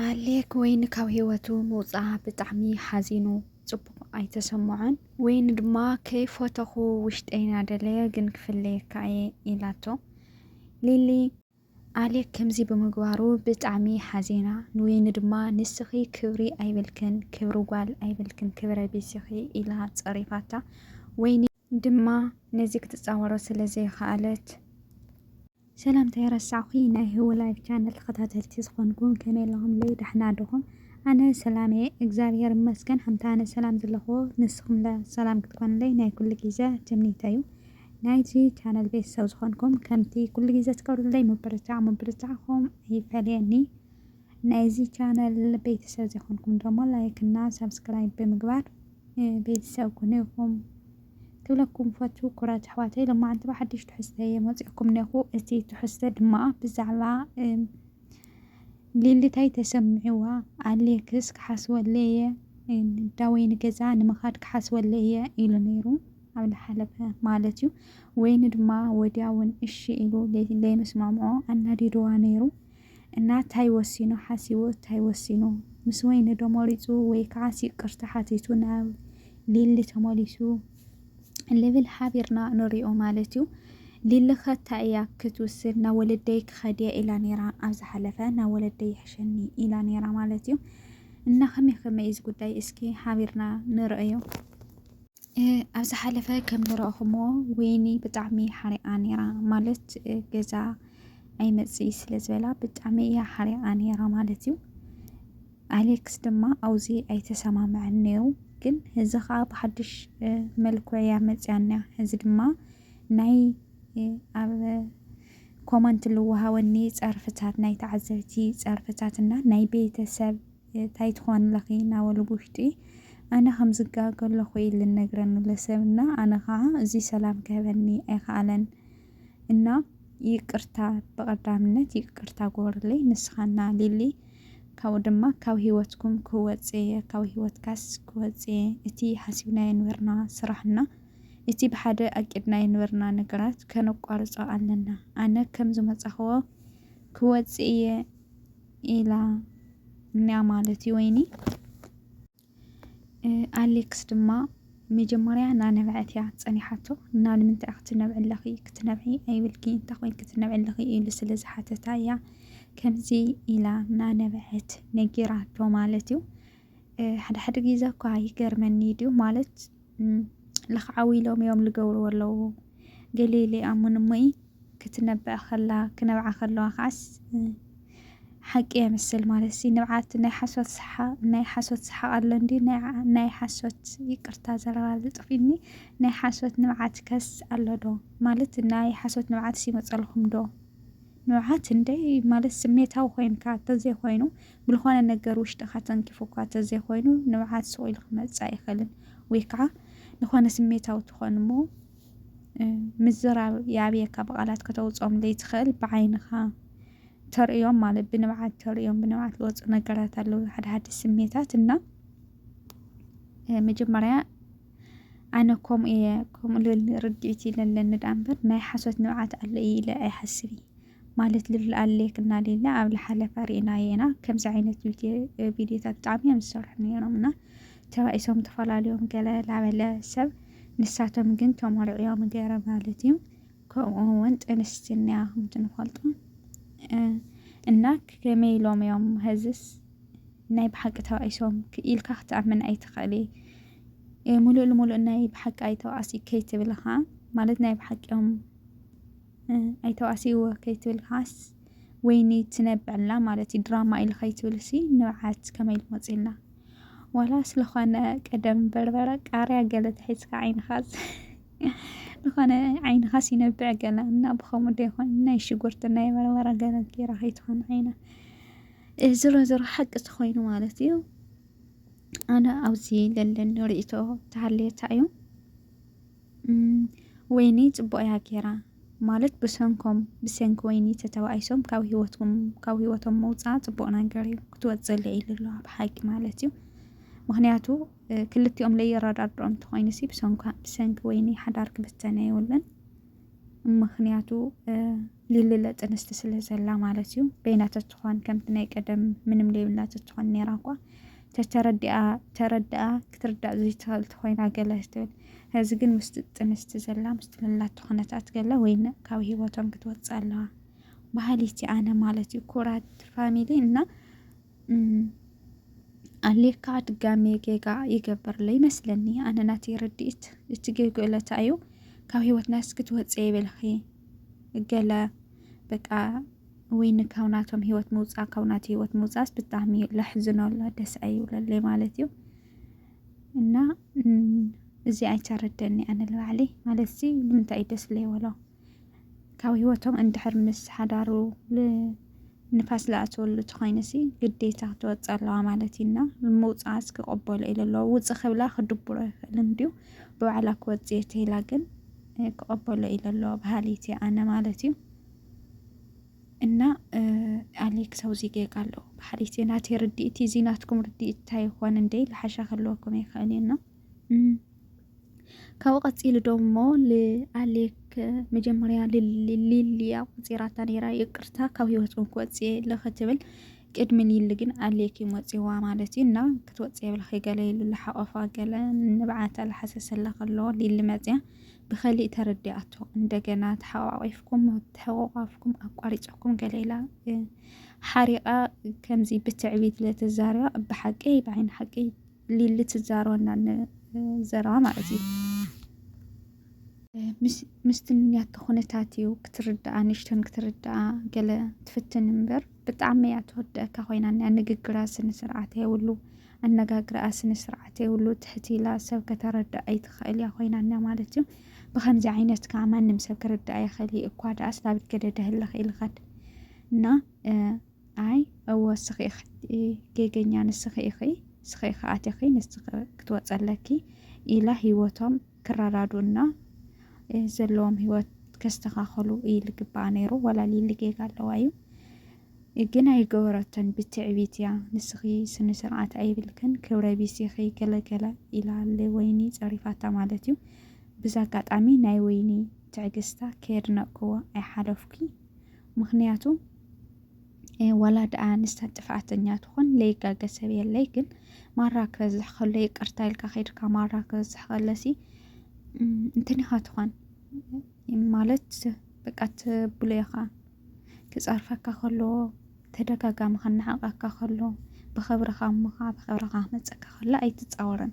ኣሌክ ወይኒ ካብ ህይወቱ ምውፅኣ ብጣዕሚ ሓዚኑ ፅቡቕ ኣይተሰምዖን። ወይኒ ድማ ከይፈተኹ ውሽጠይ ናደለየ ግን ክፍለየካ እየ ኢላቶ። ሊሊ ኣሌክ ከምዚ ብምግባሩ ብጣዕሚ ሓዚና። ንወይኒ ድማ ንስኺ ክብሪ ኣይብልክን ክብሪ ጓል ኣይብልክን ክብረ ቢስ ኢኺ ኢላ ፀሪፋታ። ወይኒ ድማ ነዚ ክትጻወሮ ስለ ዘይኸኣለት። ሰላም ተይረሳዕኩ ናይ ህዊ ላይፍ ቻነል ተኸታተልቲ ዝኾንኩም ከመይ ኣለኹምለይ ዳሕና ዶኹም ኣነ ሰላም እየ እግዚኣብሔር ይመስገን ከምቲ ኣነ ሰላም ዘለኹዎ ንስኹምለ ሰላም ክትኮንለይ ናይ ኩሉ ግዜ ትምኒተይ እዩ ናይዚ ቻነል ቤተሰብ ዝኾንኩም ከምቲ ኩሉ ግዜ ትገብሩለይ ምብርታዕ ምብርታዕኹም ኣይፈለየኒ ናይዚ ቻነል ቤተሰብ ዘይኮንኩም ደሞ ላይክ እና ሳብስክራይብ ብምግባር ቤተሰብ ኩኑ ኢኹም ክብለኩም ፈቱ ኩራት ኣሕዋተይ ሎማዓንቲ ብሓድሽ ትሕዝተ እየ መፂኦኩም ነኹ እቲ ትሕዝተ ድማ ብዛዕባ ሊሊታይ ተሰምዕዋ ኣሌክስ ክሓስበለ እየ ዳወይ ንገዛ ንምኻድ ክሓስበለ እየ ኢሉ ነይሩ ኣብ ዝሓለፈ ማለት እዩ ወይኒ ድማ ወዲያውን እሺ ኢሉ ለይምስማምዖ ኣናዲድዋ ነይሩ እና ታይ ወሲኑ ሓሲቡ ታይ ወሲኑ ምስ ወይኒ ዶ መሪፁ ወይ ካዓስ ይቅርታ ሓቲቱ ናብ ሊሊ ተመሊሱ ልብል ሓቢርና ንሪኦ ማለት እዩ ሊሊከ ታይ እያ ክትውስን ናብ ወለደይ ክኸድ እየ ኢላ ነይራ ኣብ ዝሓለፈ ናብ ወለደይ ይሕሸኒ ኢላ ነይራ ማለት እዩ እና ከመይ ከመይ እዚ ጉዳይ እስኪ ሓቢርና ንርእዮ ኣብ ዝሓለፈ ከም ዝረእኹሞ ወይኒ ብጣዕሚ ሓሪቃ ነይራ ማለት ገዛ ኣይመፅኢ ስለ ዝበላ ብጣዕሚ እያ ሓሪቃ ነይራ ማለት እዩ። ኣሌክስ ድማ ኣውዚ ኣይተሰማምዐን ነይሩ ግን እዚ ከዓ ብሓድሽ መልክዕ እያ መፅያና እዚ ድማ ናይ ኣብ ኮመንት ልወሃወኒ ፀርፍታት ናይ ተዓዘብቲ ፀርፍታት እና ናይ ቤተሰብ ታይ ትኾንለኺ ናበሉ ብውሽጢ ኣነ ከምዝጋገ ከለኹ ኢዩ ልነግረኒ ለሰብ እና ኣነ ኻዓ እዙይ ሰላም ክህበኒ ኣይኻኣለን እና ይቅርታ ብቀዳምነት ይቅርታ ግበሩለይ ንስኻ እና ሊሊ ካብኡ ድማ ካብ ሂወትኩም ክወፅእ እየ ካብ ሂወትካስ ክወፅእ እየ እቲ ሓሲብናዮ ዝነበርና ስራሕ እና እቲ ብሓደ ኣቂድናዮ ዝነበርና ነገራት ከነቋርፆ ኣለና ኣነ ከምዝመፃኽዎ ክወፅእ እየ ኢላ እንያ ማለት እዩ ወይኒ ኣሌክስ ድማ መጀመርያ እናነብዐት እያ ፀኒሓቶ እና ንምንታይ ክትነብዒ ኣለኺ ክትነብዒ ኣይብልኪ እንታይ ኮይንኪ ክትነብዒ ኣለኺ ኢሉ ስለ ዝሓተታ እያ ከምዚ ኢላ እናነበዐት ነጊራቶ ማለት እዩ ሓደ ሓደ ግዜ እኳ ይገርመኒ ድዩ ማለት ለኽዓዊ ኢሎም እዮም ዝገብርዎ ኣለዉ ገሊኡ ዘይኣምን እሞ እዩ ክትነብዕ ከላ ክነብዓ ከለዋ ከዓስ ሓቂ የምስል ማለት ሲ ንብዓት ናይ ሓሶት ሰሓቅ ናይ ሓሶት ሰሓቅ ኣሎ እንዲ ናይ ሓሶት ይቅርታ ዘረባ ዝጥፊኒ ናይ ሓሶት ንብዓት ከስ ኣሎ ዶ ማለት ናይ ሓሶት ንብዓት ይመፀልኩም ዶ? ንውዓት ክንደይ ማለት ስሜታዊ ኮይንካ እንተዘይኮይኑ ብልኾነ ነገር ውሽጥኻ ተንኪፉካ እንተዘይኮይኑ ንውዓት ሱቕ ኢሉ ክመጽእ ኣይኽእልን ወይ ከዓ ንኾነ ስሜታዊ ትኾን እሞ ምዝራብ የኣብየካ ብቓላት ከተውፅኦም ዘይትኽእል ብዓይንኻ ተርእዮም ማለት ብንብዓት ተርእዮም ብንብዓት ዝወፁ ነገራት ኣለዉ ሓደ ሓደ ስሜታት እና መጀመርያ ኣነ ከምኡ እየ ከምኡ ልብል ርድዒት እዩ ለለኒ ደኣ እምበር ናይ ሓሶት ንብዓት ኣሎ እዩ ኢለ ኣይሓስብ እየ ማለት ልብል ኣለየክና ሌለ ኣብ ልሓለፈ ርኢናዮ ኢና ከምዚ ዓይነት ቪድዮታት ብጣዕሚ እዮም ዝሰርሑ ነይሮም እና ተባኢሶም ተፈላለዮም ገለ ላበለ ሰብ ንሳቶም ግን ተመርዕዮም ገይረ ማለት እዩ ከምኡ እውን ጥንስቲ እንያ ከምቲ ንፈልጦ እና ከመይ ኢሎም እዮም ሀዝስ ናይ ብሓቂ ተባኢሶም ኢልካ ክትኣምን ኣይትኽእሊ ሙሉእ ልሙሉእ ናይ ብሓቂ ኣይተባኣሲ ከይትብልኻ ማለት ናይ ብሓቂኦም ኣይተባኣሲዎ ከይትብልካስ ወይኒ ትነብዕላ ማለት እዩ ድራማ ኢሉ ከይትብልሲ ንብዓት ከመይ ኢሉ መፂላ ዋላ ስለኾነ ቀደም በርበረ ቃርያ ገለ ተሒዝካ ዓይንኻስ ዝኾነ ዓይንኻስ ይነብዕ ገለ እና ብኸምኡ ዶ ይኾን ናይ ሽጉርቲ ናይ በርበረ ገለ ጌራ ከይትኾን ዓይና ዝሮ ዝሮ ሓቂ ተኾይኑ ማለት እዩ ኣነ ኣብዚ ለለኒ ርእቶ ተሃልየታ እዩ ወይኒ ፅቡቅ እያ ጌራ ማለት ብሰንኮም ብሰንኪ ወይኒ ተተባኢሶም ካብ ሂወትኩም ካብ ሂወቶም ምውፃእ ፅቡቅ ነገር እዩ ክትወፅእ ልዒሉ ኣሎ ኣብ ሓቂ ማለት እዩ ምክንያቱ ክልቲኦም ለየረዳድኦም እንተኮይኑ ሲ ብሰንኪ ወይኒ ሓዳር ክብተነ የብሉን ምክንያቱ ሊሊለ ጥንስቲ ስለ ዘላ ማለት እዩ በይና ተትኾን ከምቲ ናይ ቀደም ምንም ዘይብላ ተትኾን ነይራ እኳ ተተረዲኣ ተረድኣ ክትርዳእ ዘይትኽእል ተኾይና ገለ ትብል እዚ ግን ምስቲ ጥንስቲ ዘላ ምስቲ ልላቶ ኩነታት ገለ ወይ ካብ ሂወቶም ክትወፅእ ኣለዋ ባህሊቲ ኣነ ማለት እዩ ኩራት ፋሚሊ እና ኣሌካ ድጋሜ ጌጋ ይገብርለ ይመስለኒ ኣነ ናተይ ርድኢት እቲ ጌጉ እለታ እዩ ካብ ሂወትና እስኪ ትወፅእ ይበልኺ ገለ በቃ ወይ ካብ ናቶም ሂወት ምውፃእ ካብ ናተ ሂወት ምውፃእስ ብጣዕሚ ለሕዝኖ ኣሎ ደስ ኣይብለለይ ማለት እዩ እና እዚ ኣይተረደኒ ኣነ ንባዕለይ ማለት እዚ ንምንታይ እዩ ደስ ለይበሎ ካብ ህይወቶም እንድሕር ምስ ሓዳሩ ንፋስ ዝኣትወሉ ተኾይንሲ ግዴታ ክትወፅእ ኣለዋ ማለት እዩና ምውፅኣስ ክቕበሎ ኢለ ኣለዎ ውፅ ክብላ ክድብሮ ይኽእል እንድዩ ብባዕላ ክወፅ እየ ተይላ ግን ክቕበሎ ኢለ ኣለዎ በሃሊት እየ ኣነ ማለት እዩ እና ኣሌክስ ኣብዚ ጌጋ ኣለዎ በሃሊት እየ ናተይ ርድኢት እዚ ናትኩም ርድኢት እንታይ ይኾን እንደ ልሓሻ ክህልወኩም ይኽእል እዩና ካብኡ ቀፂሉ ደሞ ልኣሌክ መጀመርያ ሊሊያ ቆፂራታ ነይራ ይቅርታ ካብ ህይወት እውን ክወፅእ የለ ክትብል ቅድሚ ሊሊ ግን ኣሌክ እዩ ወፂዋ ማለት እዩ እና ክትወፅእ የብልኺ ገለ ኢሉ ልሓቆፋ ገለ ንብዓታ ልሓሰሰላ ከሎ ሊሊ መፅያ ብኸሊእ ተረዲኣቶ እንደገና ተሓቋቂፍኩም ተሕቋቋፍኩም ኣቋሪፀኩም ገለ ኢላ ሓሪቃ ከምዚ ብትዕቢት ለተዛሪባ ብሓቂ ብዓይኒ ሓቂ ሊሊ ትዛረበና ዘረባ ማለት እዩ ምስትንያ ኩነታት እዩ ክትርዳኣ ንሽተን ክትርዳኣ ገለ ትፍትን እምበር ብጣዕሚ እያ ትወደካ ኮይና እኒኣ ንግግራ ስነ ስርዓት የብሉ ኣነጋግርኣ ስነ ስርዓት የብሉ ትሕት ኢላ ሰብ ከተረዳእ ኣይትኽእል እያ ኮይና እኒኣ ማለት እዩ ብከምዚ ዓይነት ከዓ ማንም ሰብ ክርዳእ ይኽእል እዩ እኳ ደኣስ ናብ ገደደ ህልኽ ኢልኻድ እና ኣይ እወ ስኺ ኢኺ ጌገኛ ንስኺ ኢኺ ስኺ ከኣት ኢኺ ንስኺ ክትወፀለኪ ኢላ ሂወቶም ክረዳዱእና ዘለዎም ሂወት ከስተኻኸሉ እዩ ልግባኣ ነይሩ ወላ ሊሊ ጌጋ ኣለዋ እዩ ግን ኣይገበረቶን ብትዕቢት እያ ንስኺ ስነ ስርዓት ኣይብልክን ክብረ ቢስ ኢኺ ገለገለ ኢላ ወይኒ ፀሪፋታ ማለት እዩ ብዛ ኣጋጣሚ ናይ ወይኒ ትዕግስታ ከየድነቅክዎ ኣይሓለፍኩ ምክንያቱ ዋላ ደኣ ንሳ ጥፍኣተኛ ትኹን ለይጋገ ሰብ የለይ ግን ማራ ክበዝሕ ከሎ ይቅርታ ኢልካ ከይድካ ማራ ክበዝሕ ከለሲ እንትን ኢኻ ትኾን ማለት በቃ ትብሎ ኢኻ ክፀርፈካ ከሎ ተደጋጋሚ ከናዕቀካ ከሎ ብኽብርኻ እሞኻ ብኽብርኻ ክመፀካ ከሎ ኣይትፃወርን።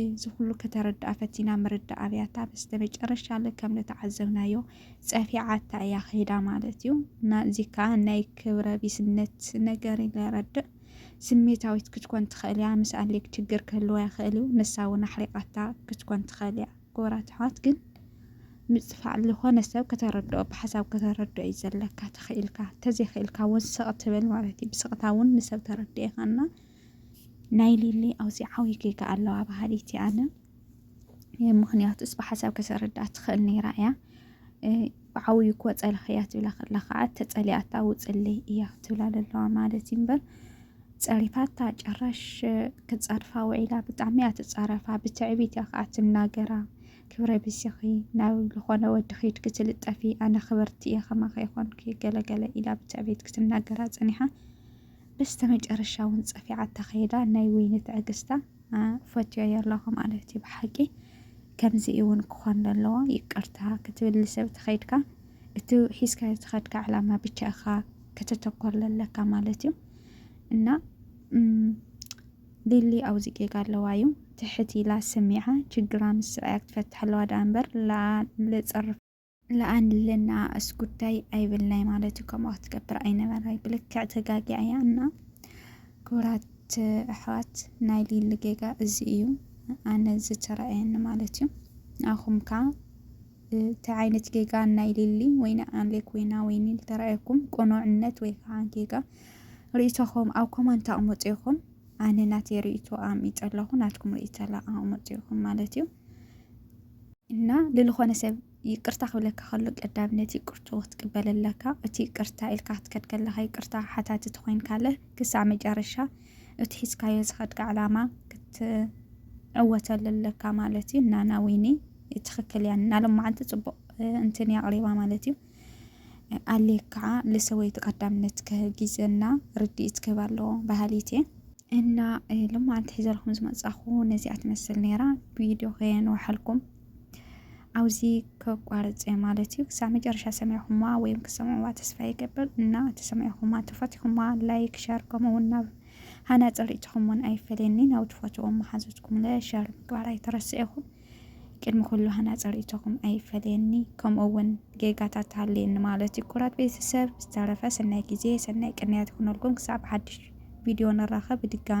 እዚ ኩሉ ከተረድኣ ፈቲና ምርዳእ ኣብያታ በስተመጨረሻ ለ ከም ንተዓዘብናዮ ጸፊዓታ እያ ከይዳ ማለት እዩ እና እዚ ከዓ ናይ ክብረ ቢስነት ነገር ይረድእ ስሜታዊት ክትኮን ትኽእል እያ። ምስ ኣሌክ ችግር ክህልዋ ይኽእል እዩ። ንሳ እውን ኣሕሪቃታ ክትኮን ትኽእል እያ። ክቡራት ኣሕዋት ግን ምፅፋዕ ዝኾነ ሰብ ከተረድኦ ብሓሳብ ከተረድኦ እዩ ዘለካ ተኽኢልካ ተዘይኽኢልካ እውን ስቕ ትብል ማለት እዩ። ብስቕታ እውን ንሰብ ተረድኤኻና ናይ ሊሊ ኣውፂዓዊ ጌጋ ኣለዋ በሃሊት እየ ኣነ ምክንያቱስ ብሓሳብ ከተረድኣ ትኽእል ነይራ እያ ብዓብዩ እኮ ፀላኽያ ትብላ ከላ ከዓ ተፀሊኣታ ውፅለይ እያ ትብላ ዘለዋ ማለት እዩ እምበር ፀሪፋታ ጨራሽ ክፀርፋ ውዒላ ብጣዕሚ እያ ትፃረፋ ብትዕቢት እያ ከዓ ትናገራ ክብረ ብስኺ ናብ ዝኾነ ወዲ ኺድ ክትልጠፊ ኣነ ክበርቲ እየ ከማኸ ይኾንኪ ገለገለ ኢላ ብትዕቢት ክትናገራ ፀኒሓ በስተመጨረሻ ውን ጸፊዓታ ከይዳ ናይ ወይኒ ትዕግስታ ፈትዮዮ ኣለኹ ማለት እዩ ብሓቂ ከምዚ እውን ክኾን ዘለዎ ይቅርታ ክትብል ንሰብ ተኸይድካ እቲ ሒዝካዮ ተኸድካ ዕላማ ብቻ ኢኻ ከተተኮር ዘለካ ማለት እዩ እና ሊሊ ኣብዚ ጌጋ ኣለዋ እዩ ትሕት ኢላ ሰሚዓ ችግራ ምስ ሰብኣያ ክትፈትሕ ኣለዋ ደኣ እምበር ለጸርፍ ለኣንልና እስ ጉዳይ ኣይብልናይ ማለት እዩ ከምኡ ክትገብር ኣይነበራይ ብልክዕ ተጋጊያ እያ እና ክቡራት ኣሕዋት ናይ ሊሊ ጌጋ እዚ እዩ ኣነ ዝተረኣየኒ ማለት እዩ ንኣኹም ከ እንታይ ዓይነት ጌጋ ናይ ሊሊ ወይ ንኣሌክ ወይ ናወይኒ ዝተረኣየኩም ቅኑዕነት ወይ ከዓ ጌጋ ርእይቶኹም ኣብ ኮመንት ኣቕምጡ ይኹም ኣነ ናተይ ርእይቶ ኣሚጠ ኣለኹ ናትኩም ርእይቶ ኣቕምጡ ይኹም ማለት እዩ እና ልልኾነ ሰብ ይቅርታ ክብለካ ከሎ ቀዳምነት ይቅርቱ ክትቅበለለካ እቲ ይቅርታ ኢልካ ክትከድ ከለካ ይቅርታ ሓታቲ ተኮይንካለ ክሳዕ መጨረሻ እቲ ሒዝካዮ ዝኸድካ ዕላማ ክትዕወተሉ ኣለካ ማለት እዩ እና ናዊኒ ትክክል እያ ናሎም መዓልቲ ፅቡቅ እንትን እያ ኣቅሪባ ማለት እዩ ኣሌ ከዓ ለሰወይቲ ቀዳምነት ጊዘና ርድኢት ክህብ ኣለዎ በሃሊት እየ እና ሎማዓንቲ ሒዘልኩም ዝመፃኹ ነዚኣ ትመስል ነይራ ቪድዮ ከየንውሓልኩም ኣብዚ ከቋርፅ እየ ማለት እዩ ክሳብ መጨረሻ ሰሚዕኹማ ወይም ክሰምዕዋ ተስፋ ይገብር እና ተሰሚዕኹማ ተፈትኹማ ላይክ ሸር ከምኡውን ናብ ሃናፀ ርእትኹም እውን ኣይፈለየኒ ናብ ትፈትዎም መሓዙትኩም ለ ሸር ምግባር ኣይተረስኤኹም ቅድሚ ኩሉ ሃናጺ ርእይቶኹም ኣይፈለየኒ ከምኡ ውን ጌጋታት ሃልየኒ ማለት እዩ ኩራት ቤተሰብ ዝተረፈ ሰናይ ግዜ ሰናይ ቅንያት ይኹነልኩም ክሳብ ሓድሽ ቪድዮ ንራኸብ ብድጋሚ